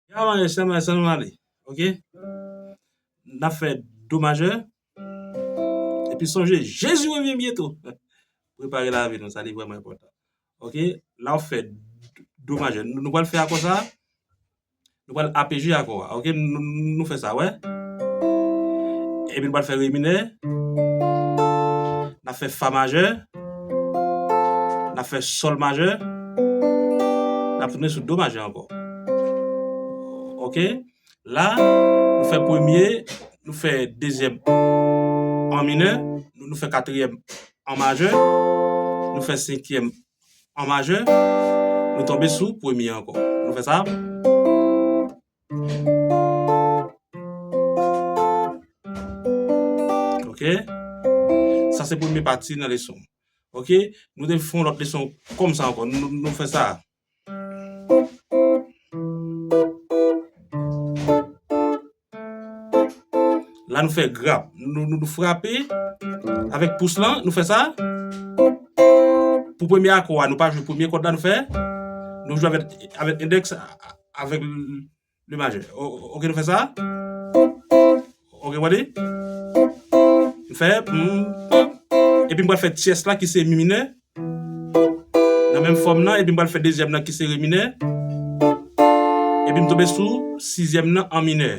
Ya maje sèm la sèm ale ok nap fè do majè epi sonje jezi revyen byento prepare lavi nou sa li vrèman enpòtan ok la ou fè do majè nou pral fè akò sa nou pral apeje akò a ok nou fè sa wè epi nou pral fè re minè nap fè fa majè. Nap fè sol majè, nap tounen sou do majè ankò. Ok, la nou fè premye, nou fè dezyèm an minè, nou fè katriyèm an majè, nou fè senkyèm an majè, nou tonbe sou premye ankò. Nou fè sa. Ok Sa se premye pati nan leson Ok Nou te fon lòt leson kòm sa ankò Nou fè sa La nou fè grap Nou frape Avèk pous la Nou fè sa Pou premye akò a Nou pa jwe premye kòd la Nou fè Nou jwe avèk endèks a Avèk le majè. Ok nou fè sa. Ok wè li. M fè. Epi m pral fè tyès la ki se mi minè. Nan menm fòm nan epi m pral fè dezyèm nan ki se re minè. Epi m tonbe sou sizyèm nan an minè.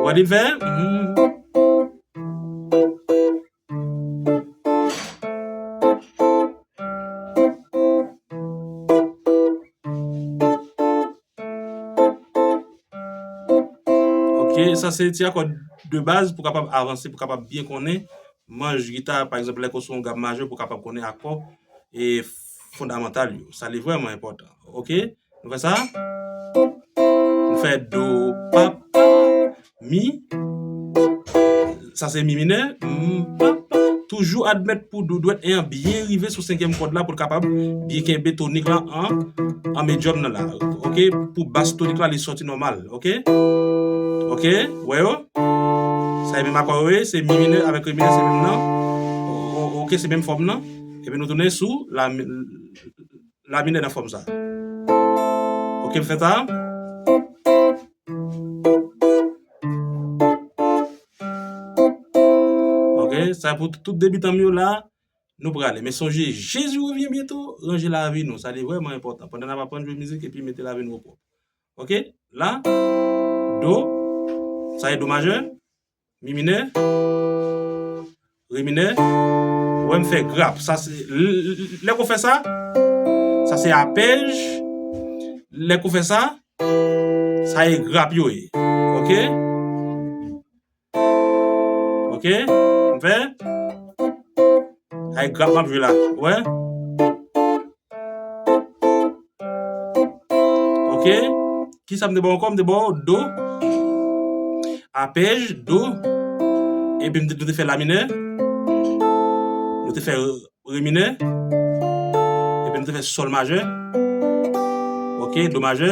Wè li m fè. Ok sa se ti akò de baz pou kapab avanse pou kapab byen konnen manj gita pa egzanp lè ke w sou yon gam majè pou kapab konnen akò e fondamantal yo sa li vrèman enpòtan ok. Nou fè sa Nou fè do pa pa Mi Sa se mi minè Mou pa pa Toujou admèt pou do dwèt 1 an byen rive sou senkyèm kòd la pou l kapab byen kenbe tonik la an An medyòm nan la ok Pou bas tonik la li soti nòmal ok Ok Ou wè yo Sa e menm akò yo ye Se mi minè avèk re minè se menm nan Ok se menm fòm nan Epi nou tounen sou la Laa La minè nan fòm sa. Ok m fè sa. Ok sa pou tout debitan m yo la. Nou prale men sonje Jezi revyen byento ranje lavi nou sa li vrèman enpòtan pandan n ap aprann jwe mizik epi mete lavi nou o pwòp. Ok la do sa e do majè. Mi minè, re minè, wè m fè grap. Sa se, lè ke w fè sa, sa se apèj, lè ke w fè sa, sa e grap yo ye. Ok? Ok? M fè? Sa e grap m ap jwe la. Ou wè? Ok Ki sa m te ba w ankò? M te ba w Do Apèj Do Epi m te di w te fè La minè Ou te fè Re minè Epi m te fè Sòl majè Ok Do majè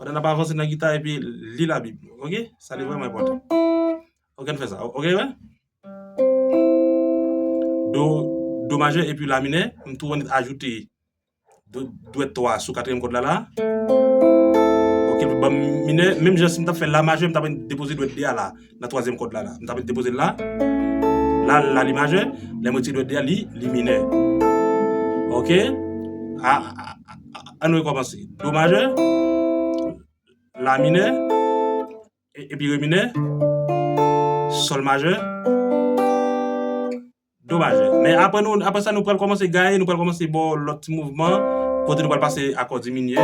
Pandan nap avanse nan gita epi li la bib nou ok sa li vreman enpotan ok ann fè sa ok wè do do majè epi la minè m tou annik ajoute dwèt 3 sou katriyèm kòd la la ok banm minè menm jan sim tap fè la majè m tap annik depoze dwèt 2 a la. nan twazyèm kòd la la. M ta mèt depoze l la. La, la li majè. Lè m wè ti dwèt li a, li, li minè. Ok? A, a, a, an nou rekòmanse. Do majè. La minè. E, epi re minè. Sòl majè. Domaj. Men apre nou apre sa nou pral kòmanse gaye, nou pral kòmanse ba w lòt ti mouvman kote nou pral pase akò diminye.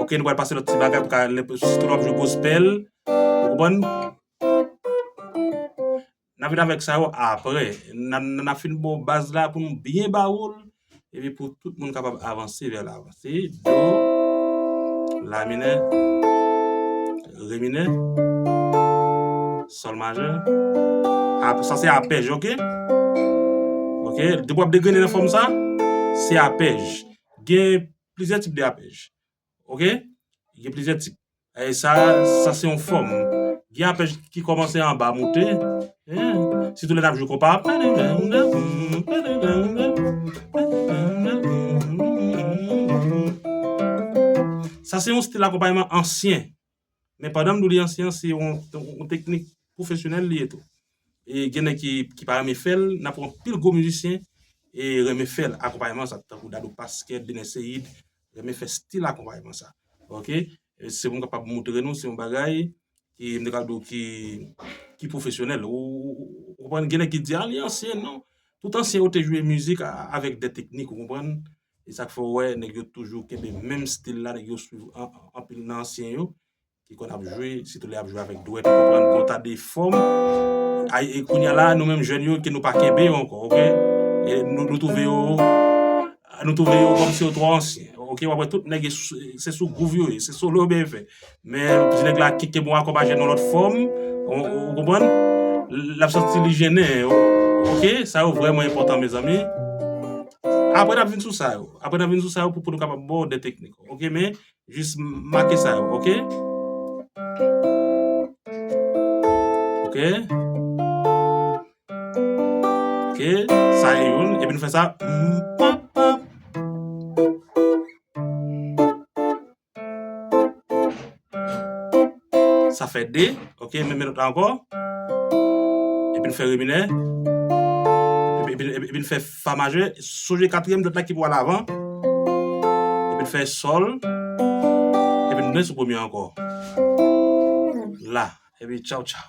Ok, nou pral pase lòt ti bagay pou ka lè sitou lè w ap jwe gospel. Ou konprann? N ap vin avèk sa yo apre. N ap fin ba w baz la pou nou byen ba w l. epi pou tout moun kapab avanse vè lavan. Se do, la minè, re minè, sòl majè, sa se apèj ok, ok, depi w ap degrene nan fòm sa, se apèj, gen plizyè tip de apèj. Ok Gen plizyè tip Èy sa Sa se yon fòm Gen apèj ki kòmanse anba moute Sitou lè n ap jwe konpa a Sa se yon stil akonpayman ansyen Men pandan m di w li ansyen an se yon teknik pwofesyonèl li ye tou. E gen nèg ki pa renmen fè l, n ap wè anpil gwo mizisyen renmen fè l, akonpayman sa tankou Dadou Pasquet, Bener Seïde renmen fè stil akonpayman sa. Ok, se pou m kapab moutre nou se yon bagay ki m te ka di w ki pwofesyonèl. Ou konprann, gen nèg ki di a li ansyen, non, tout ansyen yo te jwe mizik avèk de teknik ou konprann. e sak fè ou wè nèg yo toujou kenbe menm stil la, nèg yo swiv anpil nan ansyen yo ki konn ap jwe, sitou lè ap jwe avèk dwèt, konprann bon ta de fòm, ay e kounya la nou menm jèn yo ke nou pa kenbe yo ankò ok, e nou twouve yo, nou twouve yo kòmsi yo twò ansyen ok, wap wè tout nèg se sou gwouv yo ye, se solo yo beye fè. Men ti nèg la kite bon akò pa jwenn yon lòt fòm ou konprann lap santi li jennen ok sa yo vrèman enpòtan mezanmi apre nap vin sou sa yo apre nap vin sou sa yo pou nou kapab baw de teknik ok men jis make sa yo ok ok ok sa e youn epi nou fè sa mpap pap Sa fè 2, ok, menm menot la ankò, epi nou fè re minè, epi nou fè fa majè, sonje katriyèm dòt la ki pou al avan, epi nou fè sòl, epi nou tounen sou premye ankò, la, epi tchaw tchaw.